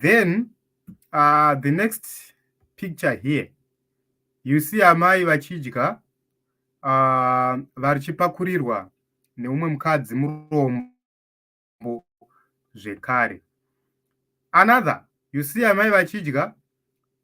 then uh, the next picture here you see amai vachidya uh, vachipakurirwa neumwe mukadzi murombo zvekare another you see amai vachidya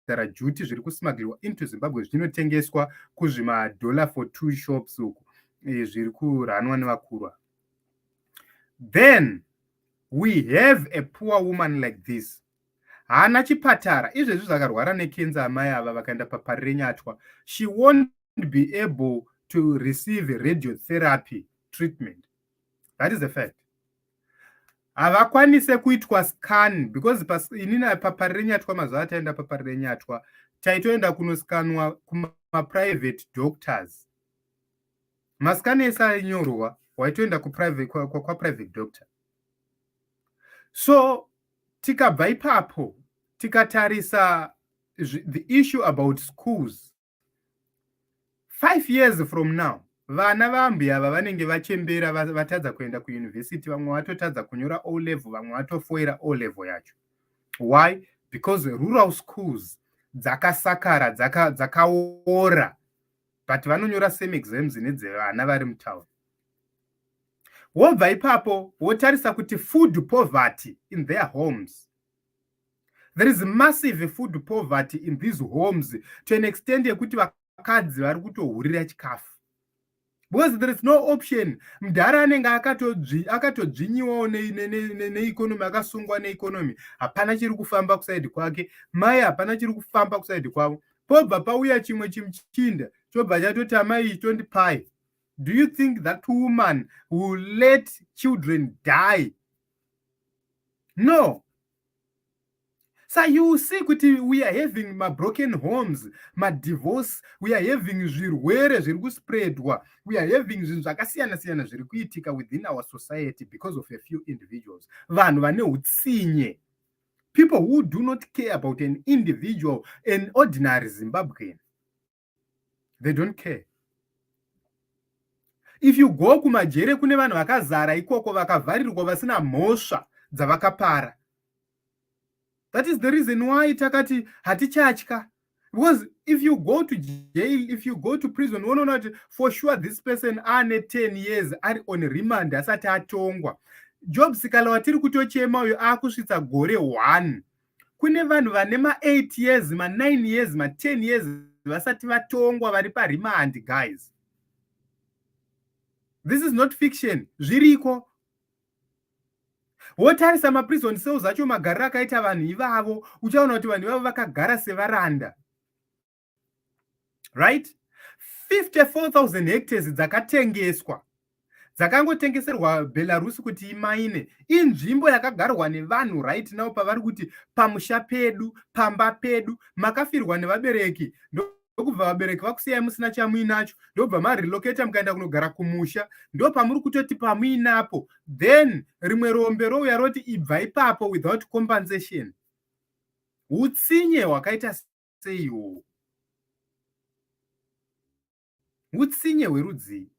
kudhara juti zviri kusmagirwa into zimbabwe zvichinotengeswa kuzvimadollar for two shops uku e, zviri kuranwa nevakurwa then we have a poor woman like this haana chipatara izvezvi zvakarwara nekenza amai ava vakaenda papari renyatwa she won't be able to receive radio therapy treatment that is the fact havakwanise kuitwa scan because inini papari renyatwa mazuva ataenda papari renyatwa taitoenda kunoskanwa kumaprivate doctors mascan ese ainyorwa waitoenda kwaprivate kwa, kwa, kwa doctor so tikabva ipapo tikatarisa the issue about schools five years from now vana vaambuya ava vanenge vachembera vatadza kuenda kuyunivhesiti vamwe vatotadza kunyora o level vamwe vatofoira o level yacho why because rural schools dzakasakara dzakaora dzaka but vanonyora same exams nedzevana vari mutown wobva ipapo wotarisa kuti food poverty in their homes there is massive food poverty in these homes to an extent yekuti vakadzi vari kutohurira chikafu because there is no option mudhara anenge akatodzvinyiwawo neeconomy akasungwa neeconomy hapana chiri kufamba kusaidi kwake mai hapana chiri kufamba kusaidi kwavo pobva pauya chimwe chimuchinda chobva chatoti amai ichi tondipai do you think that woman will let children die no sa you see kuti we are having mabroken homes madivorce we are having zvirwere zviri kuspreadwa we are having zvinhu zvakasiyana siyana zviri kuitika within our society because of a few individuals vanhu vane utsinye people who do not care about an individual an ordinary zimbabwean they don't care if you go kumajere kune vanhu vakazara ikoko vakavharirwa vasina mhosva dzavakapara that is the reason why takati hatichatya because if you go to jail if you go to prison unoona kuti for sure this person ane 10 years ari on remand asati atongwa job sikala watiri kutochema uyo akusvitsa gore one kune vanhu vane ma8 years ma9 years ma10 years vasati vatongwa vari parimandi guys this is not fiction zviriko wotarisa maprison cells acho magariro akaita vanhu ivavo uchaona kuti vanhu ivavo vakagara sevaranda right 54000 hectares dzakatengeswa dzakangotengeserwa belarus kuti imaine inzvimbo yakagarwa nevanhu right now pavari kuti pamusha pedu pamba pedu makafirwa nevabereki ndokubva vabereki vakusiyai musina chamuinacho ndobva marelocata mukaenda kunogara kumusha ndo pamuri kutoti pamuinapo then rimwe rombe rouya roti ibva ipapo without compensation utsinye hwakaita sei iwowo utsinye hwerudzii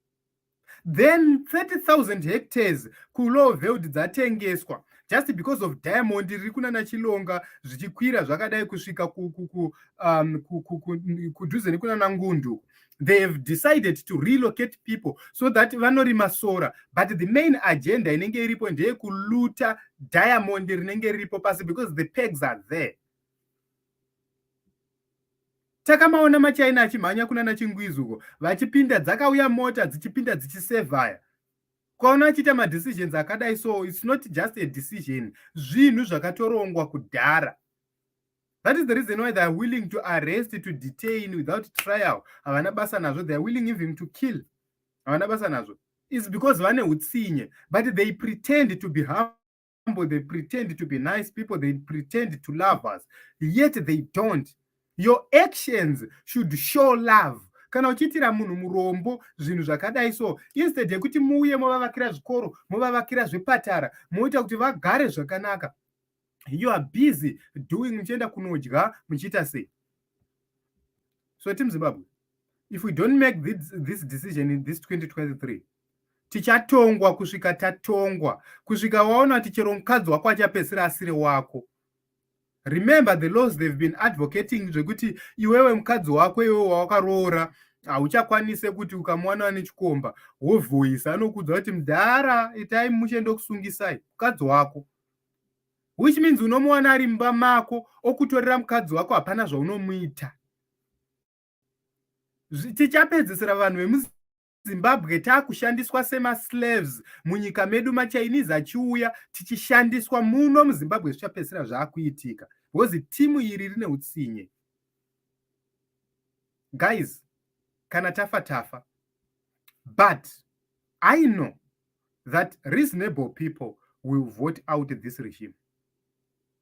then 30000 hectares kuloveld dzatengeswa just because of diamond riri kunana chilonga zvichikwira zvakadai kusvika um, kudhuze nekunana ngundu they have decided to relocate people so that vanorima sora but the main agenda inenge iripo ndeyekuluta diamond rinenge riripo pasi because the pegs are there takamaona machaina achimhanya kuna nachingwizi uko vachipinda dzakauya mota dzichipinda dzichisevhaya kwaona achiita madecisions akadai so its not just a decision zvinhu zvakatorongwa kudhara that is the reason why theyare willing to arrest to detain without trial havana basa nazvo theyare willing even to kill havana basa nazvo is because vane utsinye but they pretend to be harm humble, they pretend to be nice people, they pretend to love us, yet they don't. Your actions should show love. kana uchiitira munhu murombo zvinhu zvakadai so instead yekuti muuye movavakira zvikoro movavakira zvepatara moita kuti vagare zvakanaka you are busy doing muchienda kunodya muchiita sei so team zimbabwe if we don't make this, this decision in this 2023 tichatongwa kusvika tatongwa kusvika waona kuti chero mukadzi wako achapedzisira asiri wako remember the laws they've been advocating zvekuti iwewe mukadzi wako iwewe wawakaroora hauchakwanise kuti ukamuwana ane chikomba wovhoisa anokudza kuti mdhara itai mushe ndokusungisai mukadzi wako which means unomuwana ari mumba mako okutorera mukadzi wako hapana zvaunomuita tichapedzisira vanhu vemuzi Zimbabwe takushandiswa sema slaves munyika medu ma Chinese achiuya tichishandiswa muno muZimbabwe zvichapedzisira zvakuitika because timu iri rine utsinye guys kana tafa tafa but I know that reasonable people will vote out this regime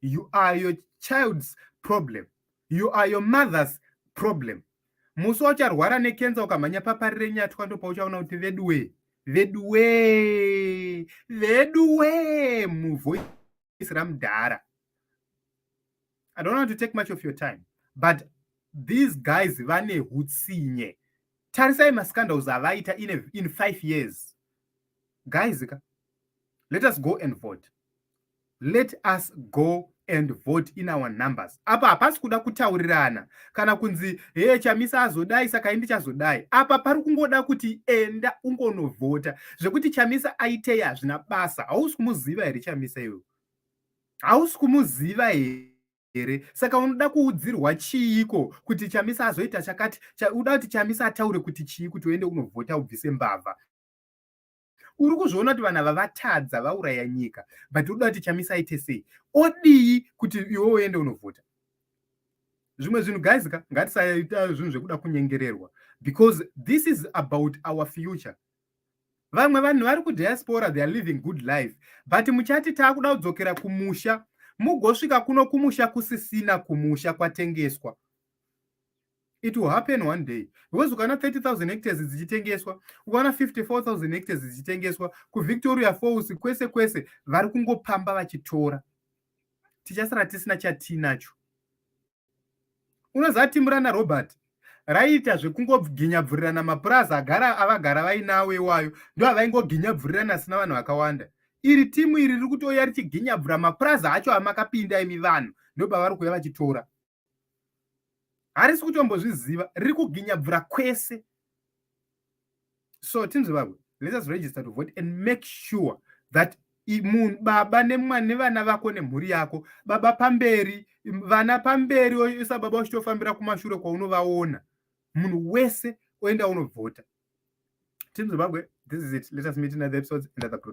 you are your child's problem you are your mother's problem musi waucharwara nekenza ukamhanya papari renyatwa ndo pauchaona kuti veduwee veduwee veduwee muvoice ramudhara i don't want to take much of your time but these guys vane hutsinye tarisai mascandals avaita in, in five years guys ka let us go and vote let us go and vote in our numbers apa hapasi kuda kutaurirana kana kunzi hee chamisa azodai saka indi chazodai apa pari kungoda kuti enda ungonovhota zvekuti chamisa aitei hazvina basa hausi kumuziva here chamisa iwe hausi kumuziva here here saka unoda kuudzirwa chiiko kuti chamisa azoita chakati uda kuti chamisa ataure kuti chii kuti uende unovhota ubvise mbavha uri kuzviona kuti vanhu ava vatadza vauraya nyika but uda kuti chamisa aite sei odii kuti iwe uende unovhota zvimwe zvinhu guys ka ngatisaita zvinhu zvekuda kunyengererwa because this is about our future vamwe vanhu vari kudiaspora they are living good life but muchati taakuda kudzokera kumusha mugosvika kuno kumusha kusisina kumusha kwatengeswa it will happen one day because ukaona 30000 hectares dzichitengeswa ukaona 54000 hectares dzichitengeswa kuvictoria falls kwese kwese vari kungopamba vachitora tichasara tisina chatiinacho unoziva timu rana robert raiita zvekungoginyabvurirana mapurazi agara avagara vainawo iwayo ndo avaingoginyabvurirana asina vanhu vakawanda iri timu iri riri kutouya richiginyabvura mapurazi acho amakapinda imi vanhu ndopavari kuuya vachitora harisi kutombozviziva riri kuginyabvura kwese so tinzi vavo let us register to vote and make sure that munhu baba nemwana nevana vako nemhuri yako baba pamberi vana pamberi oisa baba uchitofambira kumashure kwaunovaona munhu wese oenda unovhota team zimbabwe this is it let us meet in other episodes and other